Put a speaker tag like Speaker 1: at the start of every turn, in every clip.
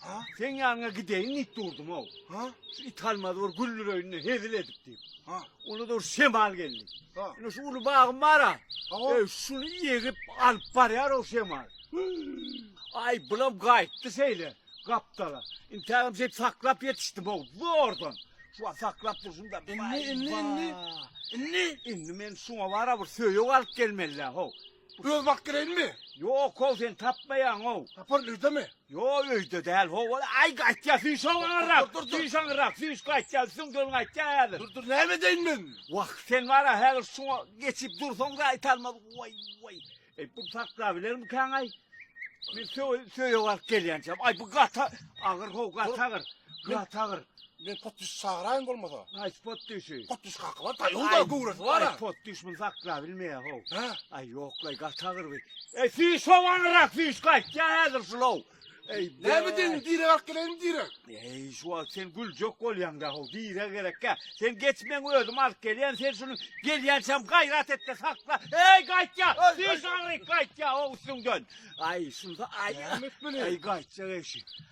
Speaker 1: Ha? Seň ýanyňa
Speaker 2: gideýin
Speaker 1: diýip durdum-ow. Ha? Şu it
Speaker 2: almazy bir
Speaker 1: güldüreýin-de hezil edip diýip. Ha? Onda da bir
Speaker 2: şemal
Speaker 1: geldi. Ha? Ine şu uly
Speaker 2: bagym
Speaker 1: bar-a. Hawa. E, şuny
Speaker 2: ýegip
Speaker 1: alyp barýar o şemal. Aý, bulam gaýtdy şeýle gapdala. Intägem şeýdip saklap ýetişdim-ow, zordan. Şu wagt saklap durşumda. Indi, indi, indi. Indi? Indi men şuňa bar-a bir söýeg alyp gelmeli-dä, how. Öz bakyp geleýinmi?
Speaker 2: Ýok-ow, sen
Speaker 1: tapmaýaň-ow. Taparyn, öýdemi?
Speaker 2: Ýo, öýde däl,
Speaker 1: howal. Aý, gaýtýa, süýş aňyrak. Dur, dur, dur. Süýş aňyrak,
Speaker 2: süýş,
Speaker 1: gaýtýa, üstüň döl gaýtýa häzir. Dur, dur, näme edeýin men?
Speaker 2: Wah, sen bar-a,
Speaker 1: häzir şuňa geçip dursaň-da aýtalmaz. Waý, waý. Eý, bu saklabilermikäň-aý? Men söýe-söýe baryp gelýänçäm. Aý, bu gaty agyr-how, gaty agyr, gaty agyr. Men potdüş
Speaker 2: çagyraýyn bolmasa. Haýsy potdüşi?
Speaker 1: Potdüş kaky bar, taýagyda
Speaker 2: göwresi bar-a. Aý, potdüş muny saklap
Speaker 1: bilmeýär-how. Hä? Aý, ýok-laý,
Speaker 2: gaty
Speaker 1: agyr bi. Eý, süýş ho, wanyrak süýş, gaýtýa häzir şul-ow. Eý, be. Näme
Speaker 2: diýýäň, direg alyp geleýinmi, direg? Eý, şu wagt sen
Speaker 1: güljek bolýaň-da, how, direg gerekkä. Sen geç, men özüm alyp gelýän, sen şuny gelýänçäm gaýrat et-de sakla. Eý, gaýtýa, süýş agyryk, gaýtýa, ho, üstüňden. Aý, şunda aý. Näme etmeli? Eý, gaýtjak eşi.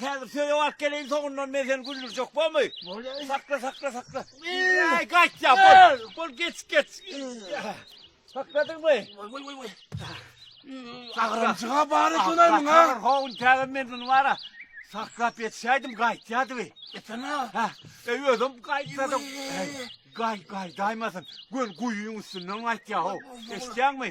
Speaker 1: Häzir söýew alyp geleýin soňundan men seni güldürjek bomy. Bolýa. Sakla sakla sakla. Aý gaýt ýa bol. Bol geç geç. Sakladyňmy? Oý oý
Speaker 2: oý oý. Agramjyga bar ekeni muňa. Saklar howun täze men bunu
Speaker 1: bara. Saklap ýetişäýdim gaýtýadyby. Etene. Ha.
Speaker 2: Eý özüm
Speaker 1: gaýtsadyk. Gaý gaýdaýmasyn. Gön guýyň üstünden gaýtýa ho. Eşitýäňmi?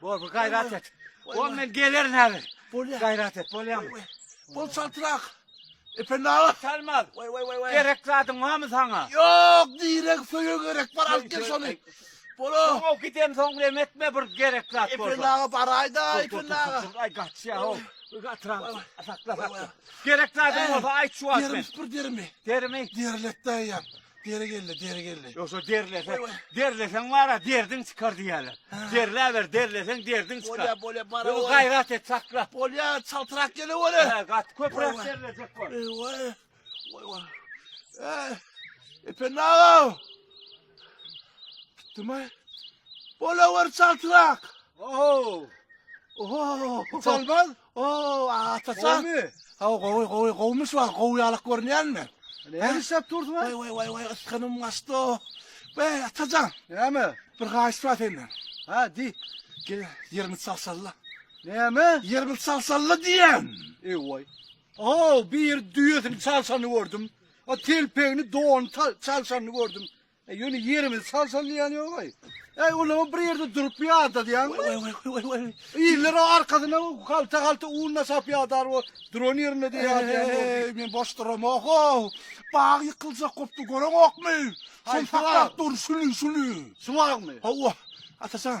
Speaker 2: Bol bol gaýrat et.
Speaker 1: Bol men gelerin häzir. Bolýa. Gaýrat et bolýamy? Bol çaltrak.
Speaker 2: Ependi aga. Salmaz. Way
Speaker 1: way way way. Gerek
Speaker 2: zadyň barmy
Speaker 1: saňa? Ýok, direk
Speaker 2: söýe gerek bar alyp gel şony. Bolo. Soňa giden soň
Speaker 1: bilen etme bir gerek zat bolsa. Ependi aga baraýda,
Speaker 2: Ependi aga. Ay gaçýa
Speaker 1: ho. Gatyrak. Sakla sakla. Gerek zadyň bolsa aýt şu wagt men. Derimi bir derimi.
Speaker 2: Derimi. Derletde
Speaker 1: ýap.
Speaker 2: Deri geldi, deri geldi. Ýogsa derlese,
Speaker 1: derleseň bara derdiň çykar diýýärler. Derläber, derleseň derdiň çykar. Bolýa, bolýa, bara. Ýogsy gaýrat
Speaker 2: et, sakla.
Speaker 1: Bolýa, çaltrak
Speaker 2: gele bolýa. Hä, gat köpräk derlejek
Speaker 1: bol. Eý, waý.
Speaker 2: Waý, waý. Eý, Ependi aga. Gitdimi? Bola wer çaltrak.
Speaker 1: Oho. Oho.
Speaker 2: Çalmaz. Ow Atajan. Gowmy? Hawa gowy gowy gowmy şu wagt gowy ýalak görünýänmi? Näme işläp dursuň?
Speaker 1: Waý waý waý waý ysgynym
Speaker 2: gaçdy. Waý Atajan. Näme? Bir
Speaker 1: haýyş bar senden.
Speaker 2: Ha diý.
Speaker 1: Gel ýerimi
Speaker 2: çalşalla. Näme?
Speaker 1: Ýerimi çalşalla diýýän.
Speaker 2: Eý
Speaker 1: waý.
Speaker 2: Ow
Speaker 1: bir düýesini
Speaker 2: çalşany
Speaker 1: gördüm.
Speaker 2: O telpegini donuny çalşany gördüm. E ýöne ýerimizi çalşan diýýän ýogaý. Äý olam bir ýerde durup ýadadýaňmy? Oý oý oý oý. Iller o arkasyna halta halta un daşap ýadar o duran ýerinde diýýär. Eý men boş duramok-a. Bag ýykyljak bopdy göreňokmy? Şol saklap dur şüli şüli. Şuwagmy? Hawa.
Speaker 1: Atajan.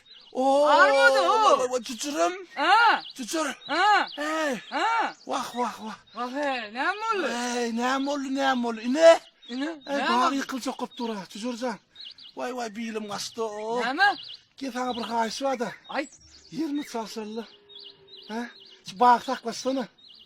Speaker 3: Oo!
Speaker 2: Armady o! Wah,
Speaker 3: wah, Çuçurum. A!
Speaker 2: Çuçur.
Speaker 3: A!
Speaker 2: Hey. A! Wah, wah,
Speaker 3: wah. Wah,
Speaker 2: hey,
Speaker 3: näme boldy? Hey, näme boldy,
Speaker 2: näme boldy? Ine. Ine, näme? Dag
Speaker 3: ýykyl çokup
Speaker 2: dur ha, Çuçurjan. Wai, wai, bilim gaçdy. Näme? Gel
Speaker 3: sana bir haýyş
Speaker 2: bar-da. Aýt. Ýerimi
Speaker 3: çalşaly.
Speaker 2: He? Şu bagy saklaşsana.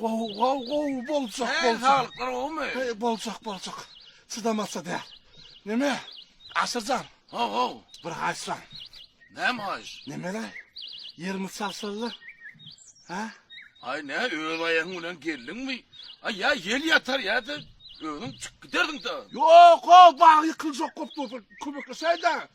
Speaker 2: Gowy gowy gowy boljak boljak. Sen saglyklar gowumy? Heý boljak boljak. Çydamasa däl. Neme? Aşyrjan. Ho ho. Bir haýyşlan. Näme
Speaker 1: haýyş? Nemele?
Speaker 2: Ýerimi çalşalla. Hä? Aý ne
Speaker 1: öz aýagyň bilen geldiňmi? Aý ýa ýel ýatar ýa-da özüň çykyp giderdiň da. Ýok o bag
Speaker 2: ýykyljak köp köpek köpekleşäýdä.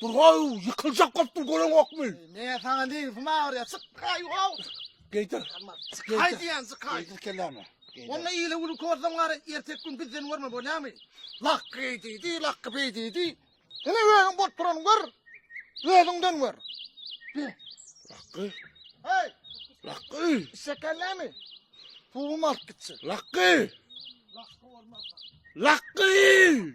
Speaker 2: Durgaw ýykyljak bolupdyr göreňokmy? Meňe saňa neňsim
Speaker 4: agyr ýa çyk gaý wow. Geýdir.
Speaker 2: Çyk gaý diýen
Speaker 4: çyk gaý. Geýdir kellämi.
Speaker 2: Onda ýyly güni
Speaker 4: körseň gary ertek gün bizden görme bolýamy? Lak geý diýdi, lak beý diýdi. Ine özüň bolup duran gör. Özüňden gör.
Speaker 2: Laky. Hey.
Speaker 4: Laky.
Speaker 2: Şekerlemi?
Speaker 4: Pulum alyp gitsin. Laky. Laky.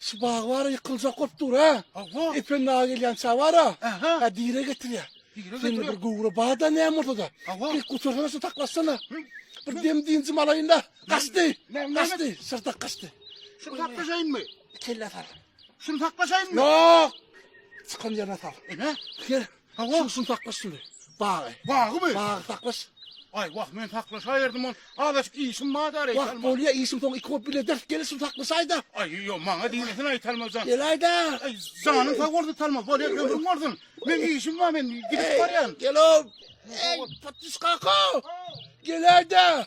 Speaker 1: Şu
Speaker 2: bagy
Speaker 1: bara
Speaker 2: ýykyljak bolup dur ha. Hawa. Ependi aga
Speaker 1: gelýänçä
Speaker 2: bara. Aha. Ha dire getirýär.
Speaker 1: Dire
Speaker 2: Sen getirýär. bir gowra bada näme
Speaker 1: bolsa
Speaker 2: da. Hawa. Bir gutursana
Speaker 1: şu taklaşsana.
Speaker 2: Bir dem dinjim alaýyn da. Gaçdy. Ne- ne- Gaçdy.
Speaker 1: Şyrtak gaçdy.
Speaker 2: Şunu saklaşaýynmy?
Speaker 1: Kelle sar.
Speaker 2: Şunu saklaşaýynmy?
Speaker 1: Ýok.
Speaker 2: Çykan ýerine sal. Ene. Gel. Hawa. Şuň
Speaker 1: şuny
Speaker 2: saklaş şuny.
Speaker 1: Bagy.
Speaker 2: Bagymy?
Speaker 1: Bagy
Speaker 2: saklaş.
Speaker 5: Aý wah men saklaşaýerdym ol. Azaşyk işim bar da reýs alma. Wah bolýa işim
Speaker 4: soň iki
Speaker 5: hop
Speaker 4: bile ders gelir şuny saklaşaýda. Aý ýo maňa
Speaker 5: diýmesin aý Talmajan. Gelaýda. Aý
Speaker 4: janyň sag
Speaker 5: bolsun Talmaz bolýa ömrüň bolsun. Men işim bar men gidip barýan. Gelo.
Speaker 4: Ey patys kaka. Gelaýda.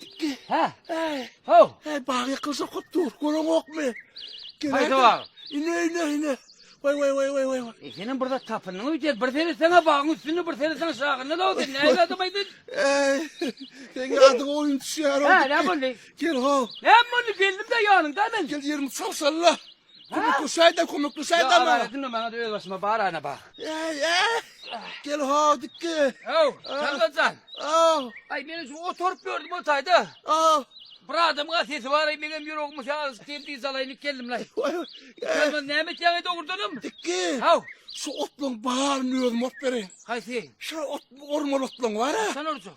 Speaker 4: Gitdi.
Speaker 3: Hä? Äý. Haw.
Speaker 4: Äý, bag
Speaker 3: ýykylsa
Speaker 4: kop dur. Göreňokmy? Haýsy bag?
Speaker 3: Ine, ine, ine.
Speaker 4: Waý, waý, waý, waý, waý. E, senem bir zat tapyndyň
Speaker 3: öýdýän. Bir seretseň-ä bagyň üstünde, bir seretseň şagynda dagy sen nähili adam aýdyn? Äý,
Speaker 4: seň adyňa oýun düşýär-ow. Hä, näme boldy?
Speaker 3: Gel, haw. Näme
Speaker 4: boldy? Geldim-dä
Speaker 3: ýanyňda men. Gel ýerimi çalşaly-la.
Speaker 4: Kömekleşäýdä, kömekleşäýdä maňa. Aýe, diňe maňa öz
Speaker 3: başyma bar ana bak. Äý, äý.
Speaker 4: Gel haw dikge. Äw, Şalbajan.
Speaker 3: Aw.
Speaker 4: Aý, men şu oturyp
Speaker 3: ýördüm otaýda. Aw.
Speaker 4: Bir adamyň-a
Speaker 3: sesi bar-aý, meňem ýüregimi şa alyşyp diýip diz alaýyn diýip geldim-laý. Waý, äý. Şalbajan,
Speaker 4: näme etýäň-eý
Speaker 3: dogrudanam? Dikge. Haw.
Speaker 4: Şu
Speaker 3: otlaryň
Speaker 4: baryny özüm orup bereýin. Haýsy? Şo ot,
Speaker 3: orman
Speaker 4: otlaryň bar-a. Haçan orjaň?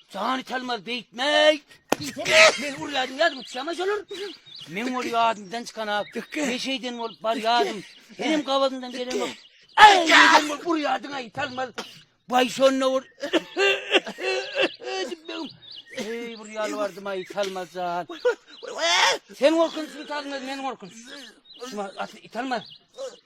Speaker 3: Jany Talmaz beýtmeý. Men urýadym ýadym çykyma şolar. Men ol ýadymdan çykan ak. Men şeýden bolup barýadym. Menem gabadyndan gelemok. Aý, sen bol burýardyň aý Talmaz. Baý şonda ol. Eý, bir ýaly bardym aý Talmaz jan. Sen gorkunç Talmaz, men gorkunç. Şuma atly Talmaz.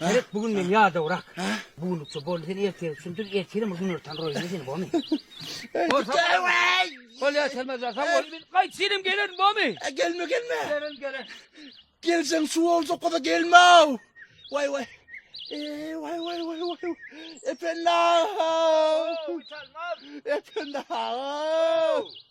Speaker 4: Gerek
Speaker 3: bu gün men ýadawrak. Bu günlükçe boldy sen ertire üçin dur, ertire mi günortan roýuna seni bomy? Bol ýa selmez ýa sen bol. Men gaýt senem gelerin bomy? Gelme gelme. Gelen gelen. Gelseň
Speaker 4: şu boljak bolsa gelme. Waý waý. Eee waý waý waý waý. Efendim. Efendim.